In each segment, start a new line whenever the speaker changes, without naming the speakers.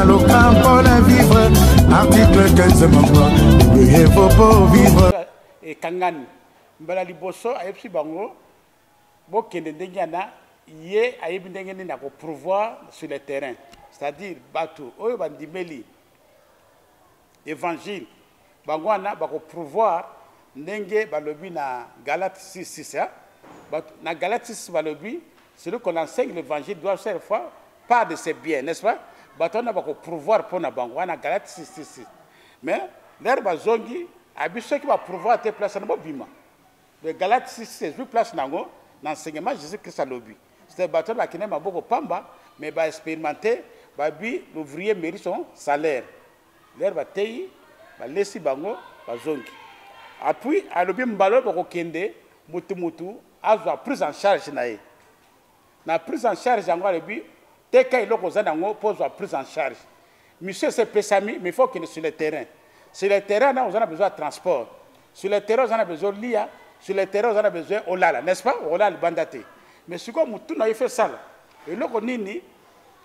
aloka mpo na vivre article 15 moko eye fo mpo vivre ekangani
mbala liboso ayebisi bango bokende ndenge yana ye ayebi ndenge nini ya koprouvoir sur le terrain c'est-à-dire bato oyo bandimeli Evangile bango wana bako prouvoir ndenge balobi na Galate 6 6 hein? na Galate 6 balobi celui qu'on enseigne l'évangile doit chaque fois part de ses biens n'est-ce pas bato wana bako prouvoir mpo na bango wana Galate 6 6 6 mais lere bazongi abi soki ba prouvoir te place wana bobima Le Galate 6 ezwi place na yango na enseignement Jesus Christ alobi c'est bato na kine maboko pamba mais ba expérimenté babi l'ouvrier mérite son salaire leur bateyi balesi bango bazongi apui alobi mbala oyo bakokende mutu mutu azwa prise en charge na ye Na prise en charge yango alobi teka eloko oza nango mpo ozwa prise en charge. Mission esi epesami mais il faut okende sur le terrain. Sur le terrain na oza na besoin ya transport. Sur le terrain oza na besoin olia, sur le terrain oza na besoin olala, n'est-ce pas? Okolala libanda te. Mais sikoyo motuna yo il faut esala eloko nini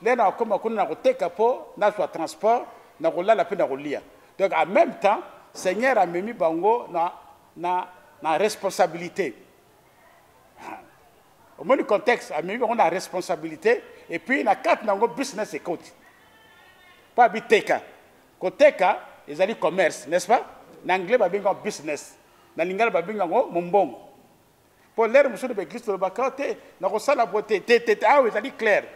nde nakokoma kuna na koteka mpo nazwa transport na kolala mpe na kolia. Donc en même temps Seigneur amemi bango na na na responsabilite. omoni contexte amemi bango na responsabilité et puis na kati na yango business ekoti mpo abiteka koteka ezali commerce n'est ce pas na anglais babengi yango business na lingala babengi yango mombongo mpo lere mosusu na baeglise tolobaka te nakosala bo te te te awa ezali claire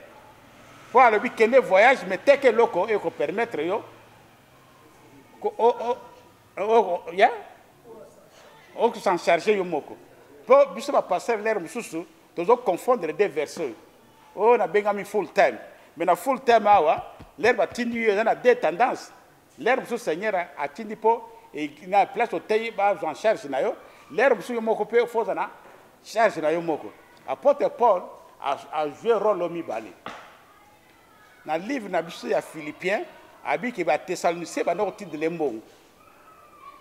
mpo alobi kende voyage me teke eloko ekopermettre yo ya oko s'en charger yo moko po biso ba pasteur lere mosusu tozo confondre deux verset oyo oh, nabengami full time mais na full time awa lere batindi yo eza na deux tendance lere mosusu seigneur atindi mpo e, na place oteyi bazwa en charge na yo lere mosusu yo moko mpe ofo oza na charge na yo moko apôtre paul ajoue role oyo mibale na livre na biso ya philippien abiki bathessalonicier banda kotindele mbongo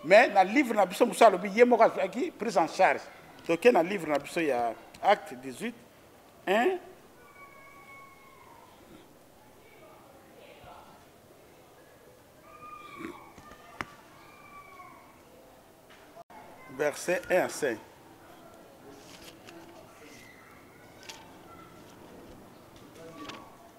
mais na livre na biso mosusu alobi ye moko azwaki prise en charge toke na livre na biso ya acte 18 1 verset 1 à 5 Thank you.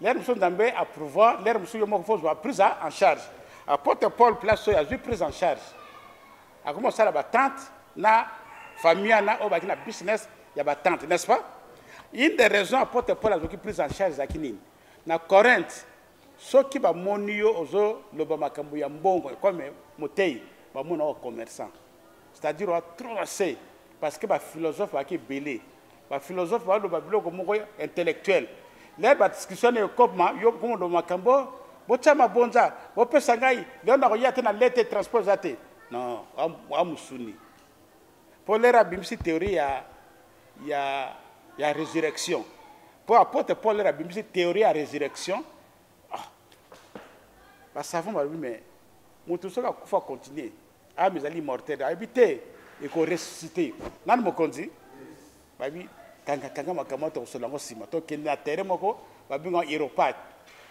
lere mosusu nzambe aprouva lere mosusu yo moko fozwa prise en charge apotre paul place oyo azwi prise en charge akomi kosala batante na famille wana oyo baki na business ya batante n'est ce pas une des raisons apotre paul azwaki prise en charge ezalaki nini na corinthe soki bamoni yo ozoloba makambo ya mbongo ekome motei bamona oyo commerçant c'est-à-dire oa trop ase parce que baphilosophe baki ebele ba philosophe baloba biloko moko intellectuel le badiscussion na ekopma yo komondo makambo botya mabonza bopesa ngai leo nakoya te na lete transport eza te non amusuni mpo lere abimisi théorie ya, ya, ya résurrection mpo apotre paul lere abimisi théorie ya résurrection ah. basavon balobi me moto soki akufa continue ame ezali immortel ayebi te ekoressuscite nani mokonzi bayebi kangakanga makambo wana tokosola yango nsima tokende na terrain moko babengaka aéropage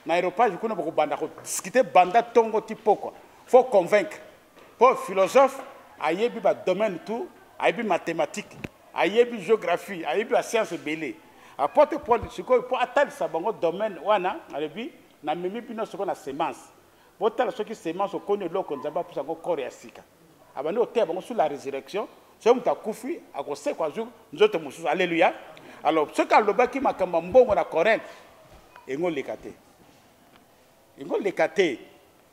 na aéropage kuna bakobanda kodiskute banda ntongo ti pokwa fo convaincre mpo philosophe ayebi badomaine tout ayebi mathématique ayebi géographie ayebi bascience ebele apote paul sikoyo mpo atalisa bango domaine wana alobi namemi bino sikoyo na semence botala soki semence okoni eloko nzambe apesa yango kore ya sika abandi koteya bango sur la résurrection soki moto akufi akosekwa azwi nzoto mosusu alleluya alors soki alobaki makambo ya mbongo na corinthe yango oleka te yango oleka te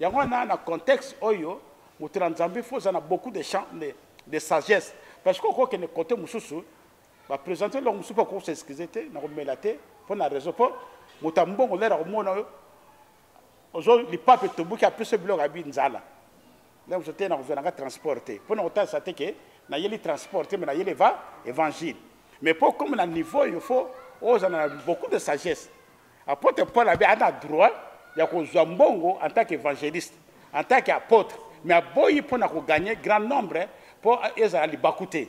yango wana na contexte oyo moto na nzambe fo oza na beaucoup de champ de, de sagesse parce que okokende kote mosusu bapresente eloko mosusu mpo akokosa excuse te nakomela te mpo na réseau mpo moto ya mbongo lere akomona oyo ozo lipapu etobuki apesi yo biloko abi nzala ndenge mosusu te nakozwa nanga transport te mpo na kotalisa te ke nayeli transport te me nayeli eva évangile mais mpo okoma na niveau oyo fo ozala na beaucoup de sagesse apotre paul abi ana droit ya kozwa mbongo en tant qu'évangéliste en tant qu'apôtre mais aboyi mpo na koganye grand nombre mpo ezala libaku te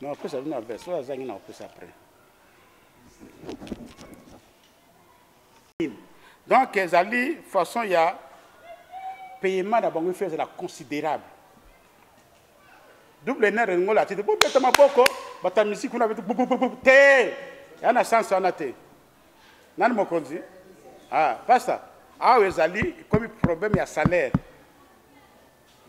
Non, après ça, non, après ça, ça, non, après ça, après. Donc, ezali façon ya paiement na bango ifo ezala considérable double ner elingo lati te bobeta maboko bata misiki kuna beti te ya na sens wana te nani mokonzi ah, pasta awa ezali ekomi problème ya salaire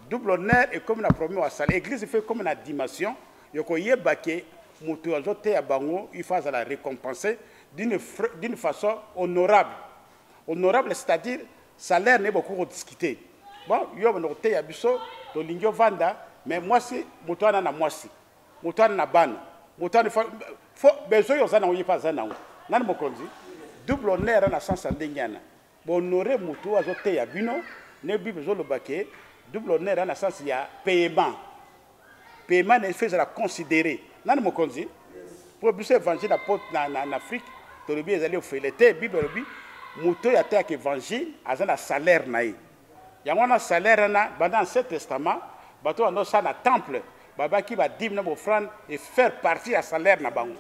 double honneur ekomi na problème ya salaire église ifo ekomi na dimension ya koyeba ke moto azoteya bango ifo azala récompensé d'une façon honorable honorable c'est à dire salaire ne bokoki kodiscute bon yo banda koteya biso tolingi ovanda mais mwasi moto wana na mwasi motane na bana motane fo besoin oyo oza nango ye mpe aza nango nani mokonzi double honneur na sens ya ndenge wana bohonore motu oyo azoteya bino ne bible ezoloba ke double honneur na sens ya paiement paiement na efo ezala considere nani mokonzi mpo biso évangile na afrique tolobi ezali ofele te bible elobi moto oyo ateyaka évangile aza na salaire na ye yango wana salaire wana banda ancien testament bato banda osala na temple babaki badime na bofrande efaire partie ya salaire na bango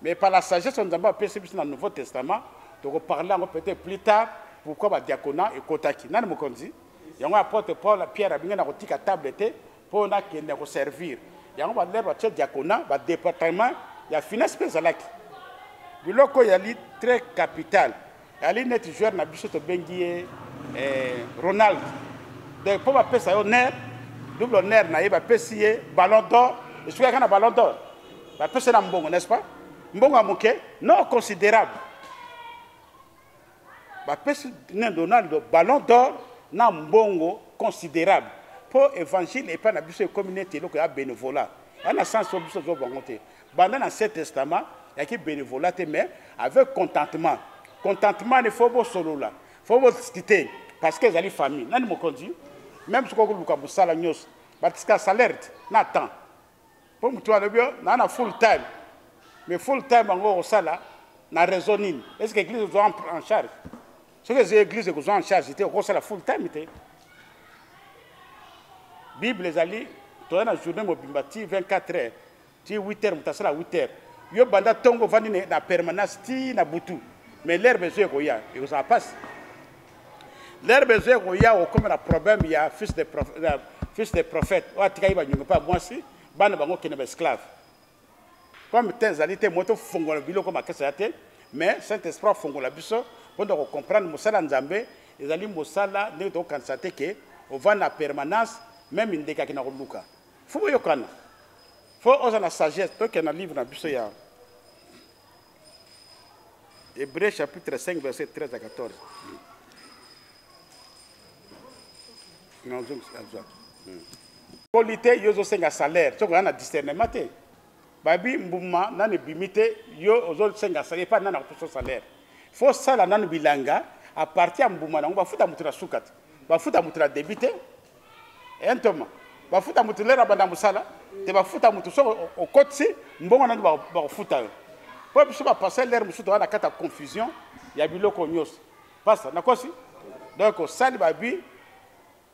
mais par la sagesse oyo nzambe apesi biso na nouveau testament tokoparle yango peut-être plus tard pourquoi badiakona ekotaki nani mokonzi yango apotre paul pierre abingi na kotika table te Mpo nakende ko servir. Yango ba lèvres ce diaconat ba département ya finance mpe ezalaki. Biloko yali très capital. Yali neti joueur na biso tobengi ye eh, Ronald. Donc mpo bapesa yo ner double ner na ye bapesi ye ballon d'or esukaka na ballon d'or bapesi ye na mbongo n'est-ce pas mbongo ya moke non considérable bapesi na donaldo ballon d'or na mbongo considérable mpo évangile epai na biso ekomi neti eloko ya bénévolat ya na sens oyo biso tozo bango te banda na ancien testament yaki bénévolat te mais avec contentement contentement ne fo bosolola fo bodiscute parce que ezali famille nani mokonzi même soki okoluka mosala nyonso batika salaire te na temps mpo motu alobi yo naa na full time mais full time yango okosala na raison nini est ce que église ozwa en charge soki eza église ekozwa en charge te okosala full time te bible ezali toza na journée mobimba ti 24 heures ti 8 heures moto asala 8 heures yo banda ntongo ovandi na permanence ti na butu mais l'herbe ezo ekoya ekozala mpasi L'herbe ezo ekoya okoma na problème ya fils de prophète, ya fils de prophète oyo atikaki banyongo mpe mwasi bana bango kende ba esclave comme temps ezali te moto fongola biloko makasi ya te mais saint esprit afongola biso mpo na kocomprendre mosala nzambe ezali mosala ndenge tokokanisa te ke ovanda na permanence meme ndeke akenda koluka fo boyokana fo oza na sagesse tokenda na livre na biso ya Hébreu chapitre 5 verset 13 à 14. Non, je ne poli te yo ozosenga salaire soki oza na discernement te babi mbuma nani ebimi te yo ozosenga salaire epai nani akopeso salaire fo sala nanu bilanga apartir ya mbuma nango bafuta moto na suka te bafuta moto na debi te eh, ntoma bafuta motu lere abanda mosala te bafuta motu soki okotisi mbongo nani bakofuta yo mpo biso bapasa lere mosusu toza na kati ya confusion ya biloko nyonso pasta nakosi donc osali babi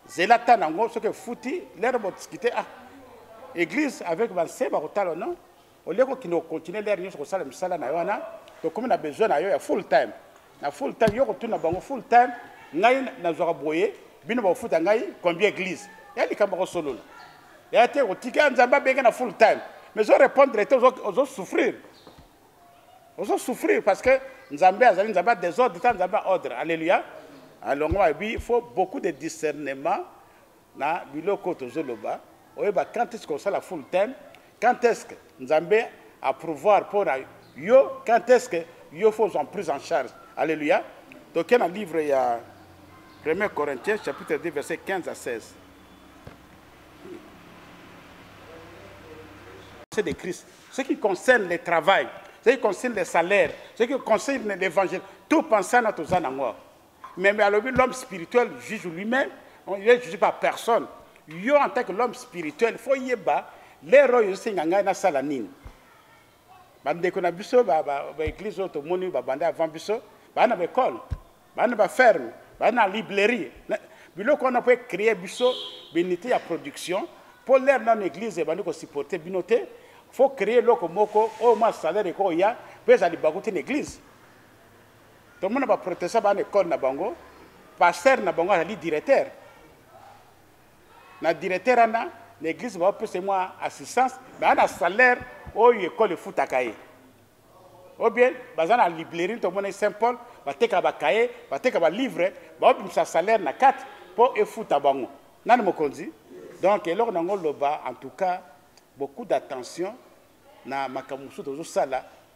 zela ta nango soki efuti lere botiskite ah église avec banse bakotala no au lieu ko kino continuer l'air nyoso kosala misala na yo wana tokomi na besoin na yo ya full time na full time yo kotuna bango full time ngai nazwaka boye bino bakofuta ngai combien église ya likambo kosolola ya te kotika nzambe abenge na full time mais ozo répondre te ozo souffrir ozo souffrir parce que nzambe azali nzambe ya désordre ta nzambe ya ordre alleluia alongo abi faut beaucoup de discernement na biloko oyo tozoloba oyeba quand est-ce kosala full time quand est-ce que nzambe approuvoir mpo na yo quand est-ce que yo fo ozwa prise en charge alleluia toke na livre ya 1 corinthiens chapitre 2 verset 15 à 16 c'est de christ ce qui concerne le travail ce qui concerne le salaire ce qui concerne l'évangile tout pensant na toza na ngwa Mais, mais alobi l'homme spirituel juge lui-même, il est jugé par personne. Yo en tant que l'homme spirituel, faut yeba lero yo singa ngai na sala nini. Bandeko na biso ba ba, ba église oyo tomoni ba banda avant biso, ba na ba école, ba na ba ferme, ba na librairie. Biloko wana peut créer biso benité ya production pour l'air dans l'église et bandi ko supporter bino te. Faut créer loko moko au moins salaire ekoya pesa libaku te l'église. tomona ba protesta bana ekole na bango pasteur na bango azali directeur na directeur wana na eglise baopesa mwa assistance me ana salaire oyo ekole efutaka ye o bien baza na librairie tomona saint paul bateka bakaye bateka balivre baobimisa salaire na kati mpo efuta bango nani mokonzi donc eloko na yango loba en tout cas beaucoup d'attention na makambo mosusu tozosala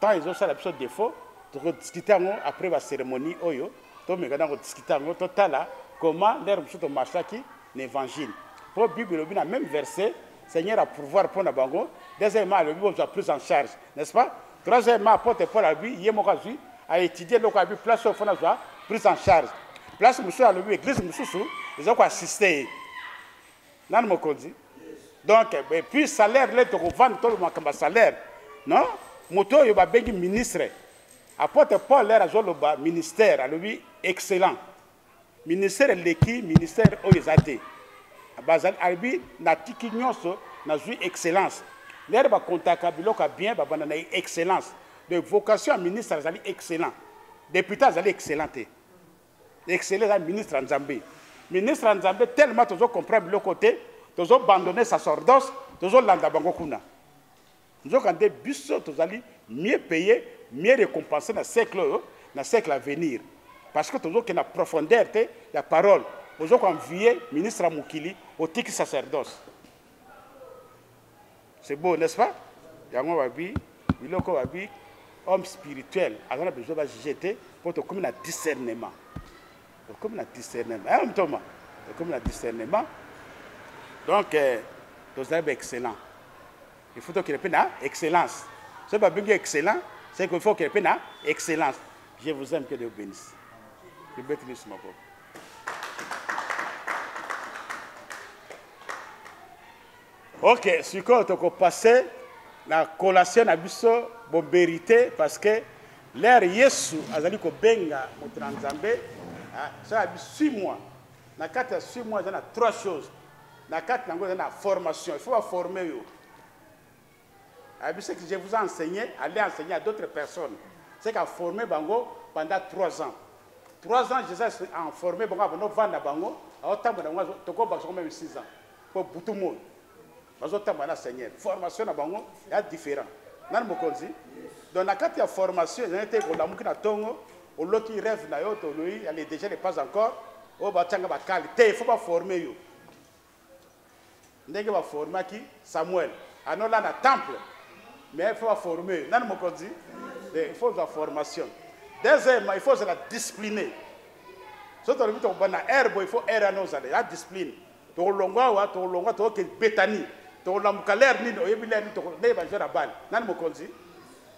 Temps ezo sala biso defaut toko discuter yango après ba cérémonie oyo to meka na ko discuter yango to tala comment ndere mosusu to marchaki na évangile po bible elobi na même verset Seigneur a pourvoir mpo na bango deuxièmement alobi bozwa prise en charge n'est-ce pas troisièmement apotre Paul alobi ye moko azwi a étudier eloko alobi place oyo mpo nazwa prise en charge place mosusu alobi église mosusu eza ko assister ye nani mokonzi donc et puis salaire le tokovanda tolo makambo ya salaire non moto oyo babengi ministre apôtre paul lere azoloba ministère alobi excellent ministère eleki ministère oyo eza te bazali alobi natiki nyonso nazwi excellence lere bakontaka biloko ya bien babanda na excellence de vocation ya ministre azali excellent député azali excellent te excellent eza ministre ya nzambe ministre ya nzambe tellement tozo comprendre biloko te tozo bandone sacerdoce tozolanda bango kuna nzoka nde biso tozali mieux paye mieux récompensé na siècle oyo na siècle à venir parce que tozokende na profondeur te ya parole ozokoanvie ministre ya mokili otiki sacerdoce C'est beau, n'est-ce pas? Yango babi, biloko babi, homme spirituel, aza na besoin ba juger te, po tokomi na discernement. Tokomi na discernement. Hein, mtoma? Tokomi na discernement. Donc, euh, tozali ba excellent. Il faut tokende mpe na excellence. Soki babengi excellent, c'est qu'il faut okende mpe na excellence. Je vous aime, que Dieu bénisse. Je beti lisu maboko. Ok, sikoyo toko passe na collation na biso boberite parce que lere yesu azali kobenga moto na nzambe ah, sala bi six mois na kati ya six mois eza na trois choses na kati nango eza na formation il faut baforme yo ayebi ce que je vous ai enseigné aller enseigner à d'autres personnes c'est qu'à former bango pendant trois ans trois ans je suis en formé bango abanda ovanda bango aotambola bango tokobakisa ngo meme six ans mpo butu moi bazotambola na seigneur formation na bango ya différent nani mokonzi donc na kati ya formation ezali te kolamuki na ntongo oloki rêve na yo toloi ale déjà ne pas encore oyo oh, batyanga bakali te il faut baforme yo ndenge ba formaki Samuel anola na temple mais il faut ba former nani mokonzi eh, il faut la formation deuxièmement il faut la discipline soki tolobi tokobanda na aire boye il faut aire wana ozala ya discipline tokolongwa awa tokolongwa tokoke betani tokolamuka lere nini oyebi lere nini ndenge bajeur ya bale nani mokonzi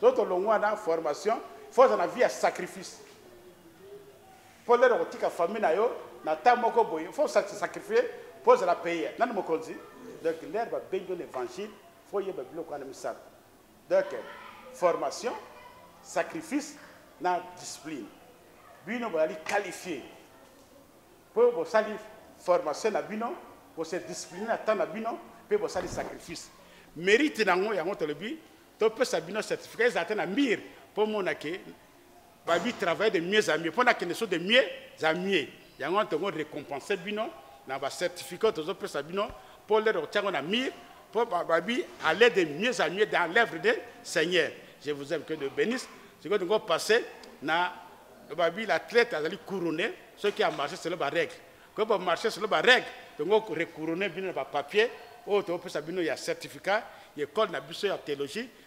to tolongwa na formation faut ozala na vie ya sacrifice Po lelo okotika famille na yo na temps moko boye faut se sacrifier po ozala payer nani mokonzi donc lelo ba bengi yo na evangile faut yeba biloko wana misato donc formation sacrifice na discipline bino bozali qualifie mpo bosali formation na bino bose discipline na temps na bino mpe bosali sacrifice mérite na yango yango tolobi topesa bino certificat ezala te na mbire mpo omona ke babi travailler de mieux à mieux mpo nakende so de mieux à mieux yango wana tongo récompense bino na bacertificat tozopesa bino mpo lelo kotiango na mire mpo babi aller de mieux à mieux dans l'œuvre de seigneur je vous aime que de bénisse sikoyo tongo passe na babi la traite azali couronné soki amarche selo barègle koyo bamarche selo barègle tongo recouronne bino na bapapier oyo tokopesa bino ya certificat ya ekole na biso ya théologie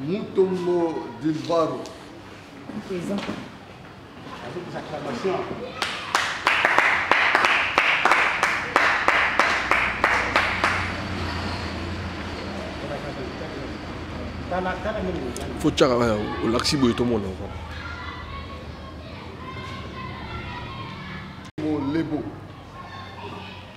Mutombo Dilbaro.
Présent. Avec des
acclamations. fo tyaka kaka olakisi boye tomona
lebo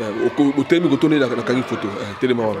eh, otelemi kotonde nakangi foto eh, telema wana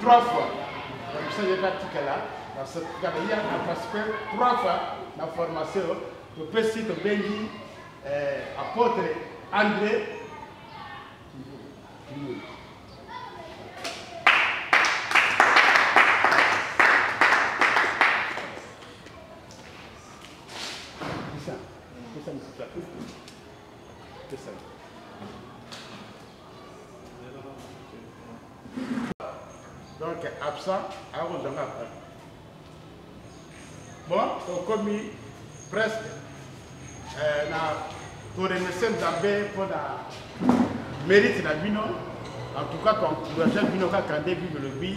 trois fois nakosa ye katikala nasatikala ye aparticipe trois fois na formation topesi tobengi eh, apôtre andré Thank you. donc absent akozanga après bon okomi presque euh, na toremercie nzambe mpo na mérite na bino en tout cas toencourage bino kaka nde bible lobi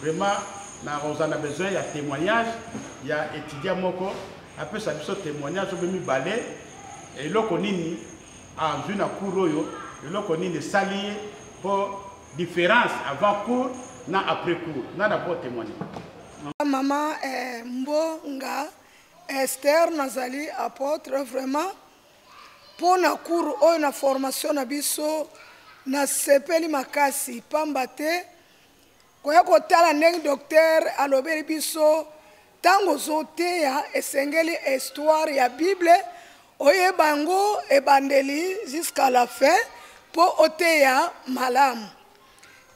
Vraiment na rosa na besoin ya témoignage ya étudiant moko apesa biso témoignage obe mibale eloko nini azwi na cour oyo eloko nini esali ye mpo différence avant cour na après cour nga na po témoigne mama
eh, mbonga ester nazali apôtre vraiment mpo na cour oyo na formation na biso nasepeli makasi mpamba te koya kotala ndenge doktere alobeli biso ntango ozoteya esengeli histoire ya bible oyeba yango ebandeli jusqu'à la fin mpo oteya malamu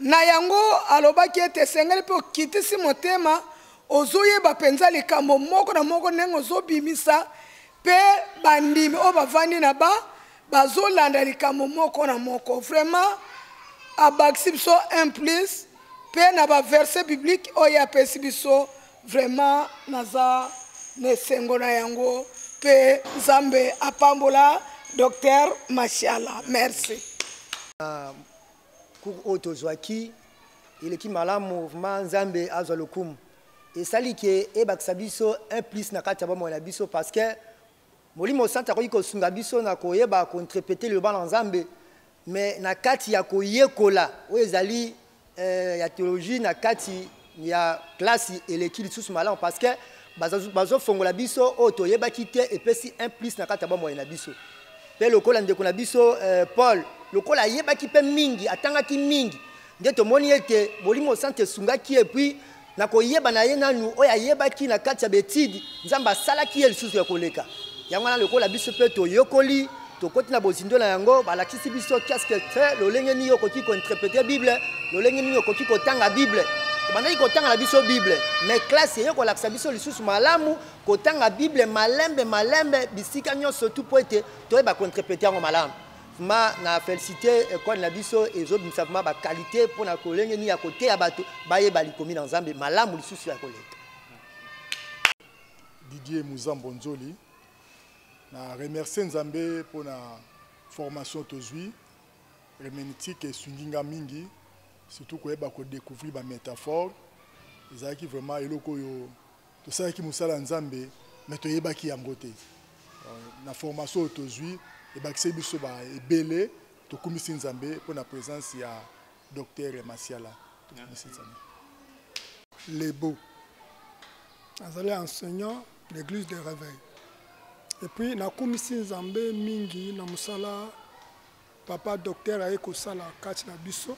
na yango alobaki ete esengeli mpe okitisi motema ozoyeba mpenza likambo moko na moko ndenge ozobimisa mpe bandimi oyo bavandi na ba bazolanda likambo moko na moko vraiment abakisi biso un plus mpe na baverse biblique oyo apesi biso vraiment naza na esengo na yango mpe nzambe apambola docteur mashala merci ah,
cour oyo tozwaki eleki malamu vraimen nzambe azwa lokumu esali ke ebakisa biso un plus na kati ya bomoi na biso parce que Molimo Santu akoki kosunga biso na koyeba kointrepete liloba na Nzambe, me na kati ya koyekola oyo ezali eh, ya teoloji na kati ya klasi eleki lisusu malamu parce que bazofongola biso oyo toyebaki te epesi un plus na kati ya bomoi na biso mpe lokola ndeko na biso eh, paul lokola ayebaki mpe mingi atangaki mingi nde tomoni ete molimo santu esungaki epuis Na koyeba na ye nanu oyo ayebaki na kati ya betide, Nzambe asalaki ye lisusu ya koleka. Yango wana lokola biso mpe toyekoli, tokoti na bozindo na yango, balakisi biso qu'est-ce que c'est, lolenge nini okoki ko interpreter Bible, lolenge nini okoki kotanga Bible. Tobandaki kotanga na biso Bible, mais classe eye kolakisa biso lisusu malamu kotanga Bible malembe malembe bisika nyonso tout mpo ete toyeba ko interpreter yango malamu. Ma na felicite école na biso ezobimisa vraiment ba qualité mpo na kolenge nini ya koteya bato bayeba likomi na nzambe malamu lisusu ya koleka
didier muzambo nzoli na remercie nzambe mpo na formation tozwi herméneutique esungi nga mingi surtout koyeba kodecouvrir bamétaphore ezalaki vraiment eloko oyo tosalaki mosala ya nzambe me toyebaki yango te euh, na formation oyo tozwi ebakiseli biso ba ebele tokumisi nzambe mpo na présence ya docteur masiala tokumisi nzambe
lebo azali enseignant l'église de réveil epuis nakumisi nzambe mingi na mosala Papa docteur aye kosala kati na biso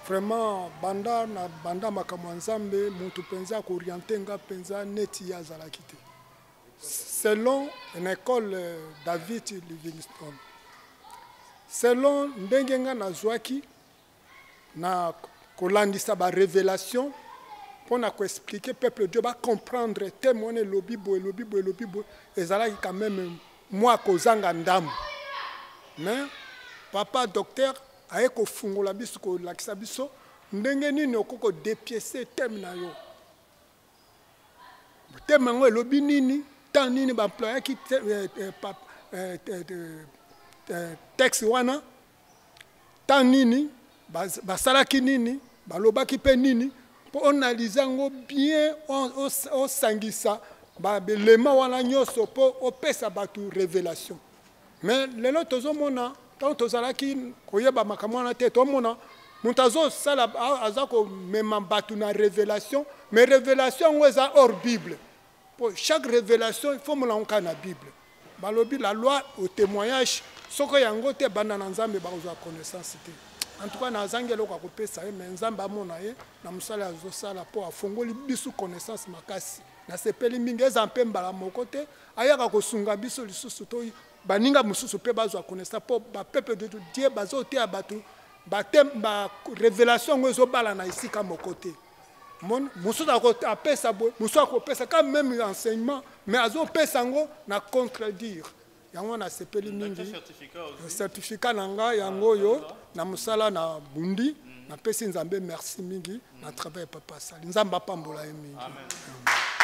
vraiment banda na banda makambo ya nzambe mutu mpenza akoriente nga mpenza neti ye azalaki te selon une école euh, david livingstone selon ndenge nga nazwaki na kolandisa ba revelation mpo na koexplike peuple dio bacomprendre teme wana elobi boye elobi boye elobi boye ezalaki quand même mwa kozanga ndambo mais papa docteur aye kofungola biso kolakisa biso ndenge nini okoki kodepiese teme na yo teme yango elobi nini temps nini baemployaki eh, eh, eh, texte wana ntango nini basalaki nini balobaki mpe nini mpo onalize yango bien osangisa baelema wana nyonso mpo opesa bato révélation mais lelo tozomona ntango tozalaki koyeba makambo wana te tomona moto azosala aza komema bato na révélation mais révélation yango eza hors bible Po chaque revelation il faut molango kaka na Bible. Balobi la loi au témoignage soko yango te banda na Nzambe bakozwa connaissance te. En tout cas nazangi eloko ya kopesa ye mais Nzambe amona ye na mosala azosala po afongoli biso connaissance makasi. Nasepeli mingi eza mpe mbala moko te ayaka kosunga biso lisusu to baninga mosusu mpe bazwa connaissance mpo bapeuple de Dieu bazoteya bato ba revelation yango ezobala na esika moko te. mon mosusu apesa boye mosusu akopesa ka meme enseignement mais azopesa yango na contredire yango nasepeli mingi certificat na ngai yango ah, oyo na mosala na bundi mm. napesi nzambe merci mingi mm. na travail papa asali nzambe apambola ye mingi Amen. Amen.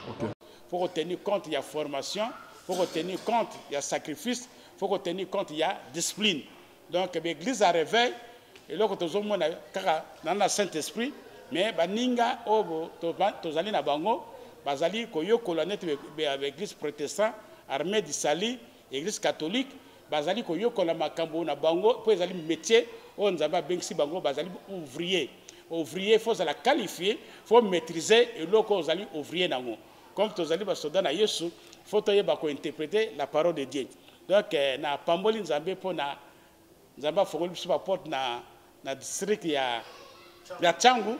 Okay. faut ko tenir compte ya formation faut ko tenir compte ya sacrifice faut ko tenir compte ya discipline donc baeglise ya réveil eloko tozomona kaka na na saint esprit mais baninga oyo tozali na bango bazali koyokola neti baeglise protestant armée du salut Eglise catholique bazali koyokola makambo na bango mpo ezali metier oyo nzambe abengisi bango bazali ouvrier ouvrier fo ozala qualifie fo maîtrise eloko ozali ouvrier nango comme tozali basoda na yesu fo toyeba kointerprete la parole de dieu donc eh, na pamboli nzambe mpo na nzambe afongoli biso baporte na, na district ya, ya changu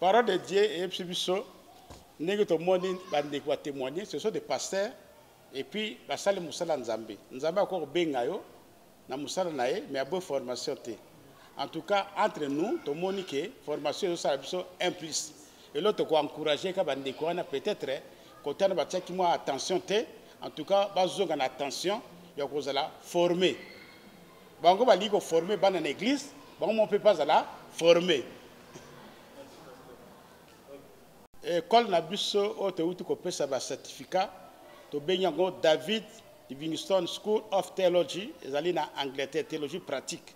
Parole de Dieu eyebisi biso ndenge tomoni bandeko batémoigne ce sont des pasteurs et puis basali mosala ya nzambe nzambe akoki kobenga yo na mosala na ye mais aboyi formation te en tout cas entre nous tomoni ke formation ezosala biso un plus eloko tokoencourage ka bandeko wana peut-être kotana batiaki mwa attention te en tout cas bazonga na attention ya kozala forme bango balingi koforme bana na eglise bango moko mpe bazala forme ekole eh, na biso oyo towuti kopesa bacertificat tobengi yango david livingston school of theology ezali na angleterre theologie pratique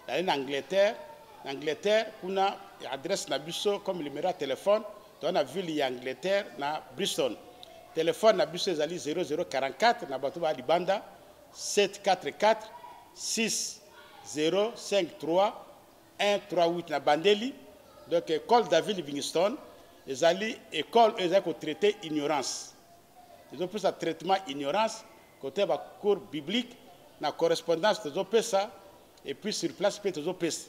ezali na angleterre na angleterre kuna adresse na biso comme numero ya telefone toza na ville ya angleterre na bristol telefone na biso ezali 0044 na bato ba libanda 744 6053 138 na bandeli donc école david livingstone ezali école oyo ezali kotraite ignorance ezopesa traitement ignorance kote bacours biblique na correspondance tozopesa epuis sur place mpe tozopesa